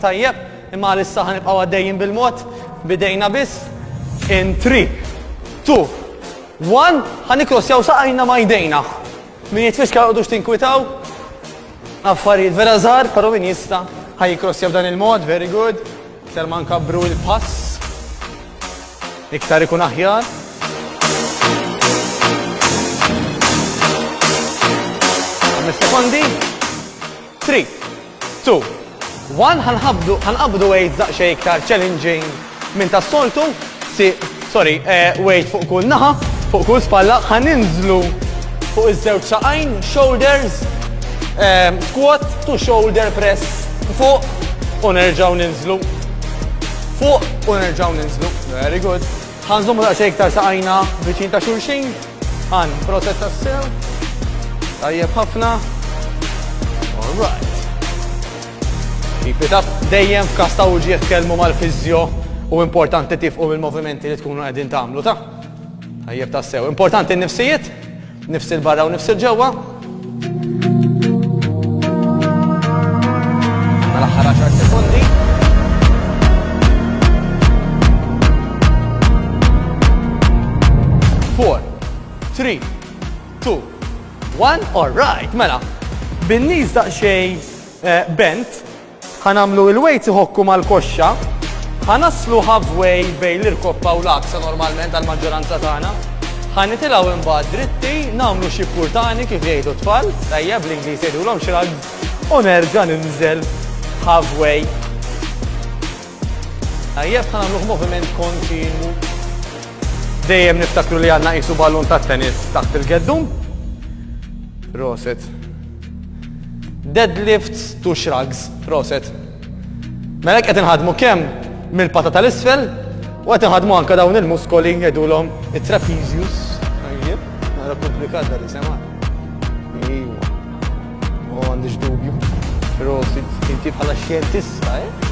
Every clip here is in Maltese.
Tajjeb, imma għalissa ħanibqgħu għaddejjin bil-mod, bidejna biss. In 3, 2, 1, ħanikrosjaw saqajna ma jdejna. Min jitfiska għodux tinkwitaw, affarijiet vera żgħar, però min jista' ħajkrossja b'dan il-mod, very good. Iktar ma nkabru il-pass. Iktar ikun aħjar. Sekondi. 3, Two, one Ħa nħabbdu, ħa nqabbdu weights daqsxejn iktar challenging minn tas-soltu, si, sorry, weight fuq kull naħa, fuq kull spalla, ħa ninżlu fuq iż-żewġ saqajn, shoulders, squat to shoulder press, fuq u nerġgħu ninżlu, fuq u nerġgħu ninżlu, very good. Ħa nżommu daqsxejn iktar saqajna viċin ta' xulxin. Ħa nprotet tassew. Tajjeb ħafna. All right. Keep it up. Dejjem f'każ ta' uġieħ kelmu mal-fiżjo u importanti tifqu mill-movimenti li tkunu qegħdin tagħmlu ta' Tajjeb tassew. Importanti n-nifsijiet. Nifs 'il barra u nifs 'il ġewwa. Tal-aħħar għaxar sekondi. Four, three, two, one, all right, mela. Bin-nies daqsxejn eh, bent, Ħa nagħmlu il-weights iħokku mal-koxxa. Ħa naslu halfway bejn l-irkoppa u l-għaksa normalment għall-maġġoranza tagħna. Ħa nitilgħu imbagħad dritti, nagħmlu xi purtani kif jgħidu t-tfal, tajjeb bl-Ingliż jgħidulhom shrugs, u nerġa' ninżel halfway. Tajjeb ħa nagħmluh moviment kontinwu. Dejjem niftakru li għandna qisu ballun tat-tennis taħt il-geddum. Roset. Deadlifts to shrugs, proset. Mela hekk qed inħaddmu kemm mill-pata tal-isfel u qed inħaddmu anke dawn il-muskoli jgħidulhom it-trapezius. Tajjeb, nara komplikat dan isema. Ejwa. U għandix dubju. Prosit, inti bħala xjentista, eh?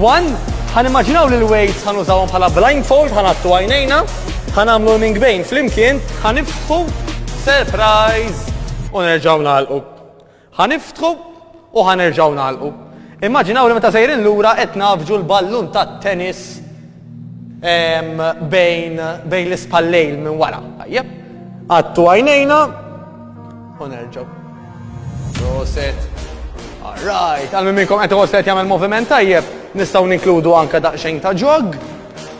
One, ħan immaġinaw li l-weights ħan użawhom bħala blindfold, ħan għattu għajnejna, ħan għamlu l mingbejn flimkien, ħan iftħu, surprise, u nerġaw nalqu. Ħan iftħu u ħan nerġaw nalqu. Immaġinaw li meta sejrin lura qed nafġu l-ballun tat-tennis bejn bejn l-ispallejl minn wara. Tajjeb. Għattu għajnejna u nerġgħu. Proset. Alright, għal minkom qed iħoss qed jagħmel moviment tajjeb, nistgħu ninkludu anke daqsxejn ta' ġog,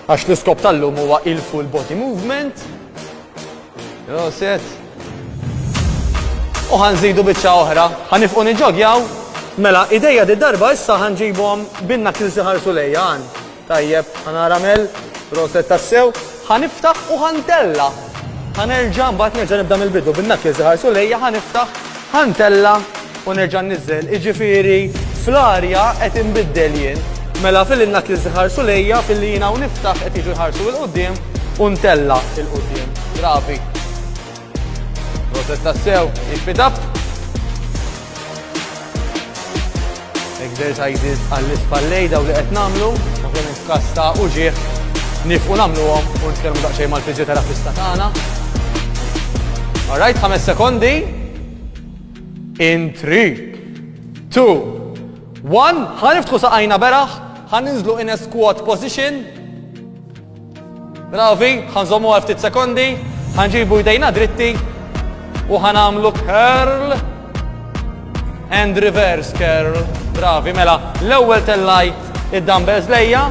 għax l-iskop tal-lum huwa il-full body movement. Proset. U ħanżidu biċċa oħra, ħanifqu niġogjaw, mela idejja di darba issa ħanġibhom binna kilsi ħarsu lejja għan. Tajjeb, ħa nara Mel, proset tassew. Ħa niftaħ u ħa ntella'. Ħa nerġa' mbagħad nerġa' nibda mill-bidu bin-knuckles li ħarsu lejja, ħa niftaħ, ħa ntella' u nerġa' nniżżel. Jiġifieri fl-arja qed inbiddel jien. Mela filli n-knuckles iħarsu lejja, filli jiena u niftaħ qed jiġu jħarsu 'l quddiem u ntella' 'l quddiem. Bravi. Proset tassew, keep it up! Exercises għall-ispallej daw li qed nagħmlu, ovvjament f'każ ta' uġieħ nifqu nagħmluhom u nitkellmu daqsxejn mal-fiżjoterapista tagħna. Alright, ħames sekondi. In 3, 2, 1, ħaniftħu saqajna beraħ, ħaninżlu in a squat position, Bravi, ħa nżommu għal ftit sekondi, ħa nġibu jdejna dritti u ħa nagħmlu curl and reverse curl. Bravi, mela, l-ewwel tellajt id-dumbbells lejja,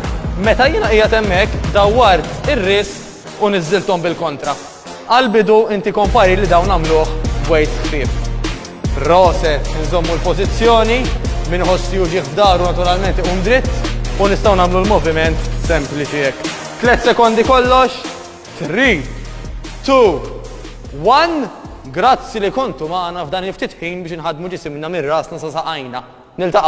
meta jiena qiegħed hemmhekk dawwart ir-ris u niżżilthom bil-kontra. Għall-bidu inti kompari li dawn għamluh b'wejts ħfief. Proset, inżommu l-pożizzjoni, min iħoss li hu ġieħ f'daru naturalment iqum dritt u nistgħu nagħmlu l-moviment sempliċi hekk. Tliet sekondi kollox, 3, 2, 1. Grazzi li kontu magħna f'dan il-ftit ħin biex inħaddmu ġisimna minn rasna sa saqajna. Niltaqgħu.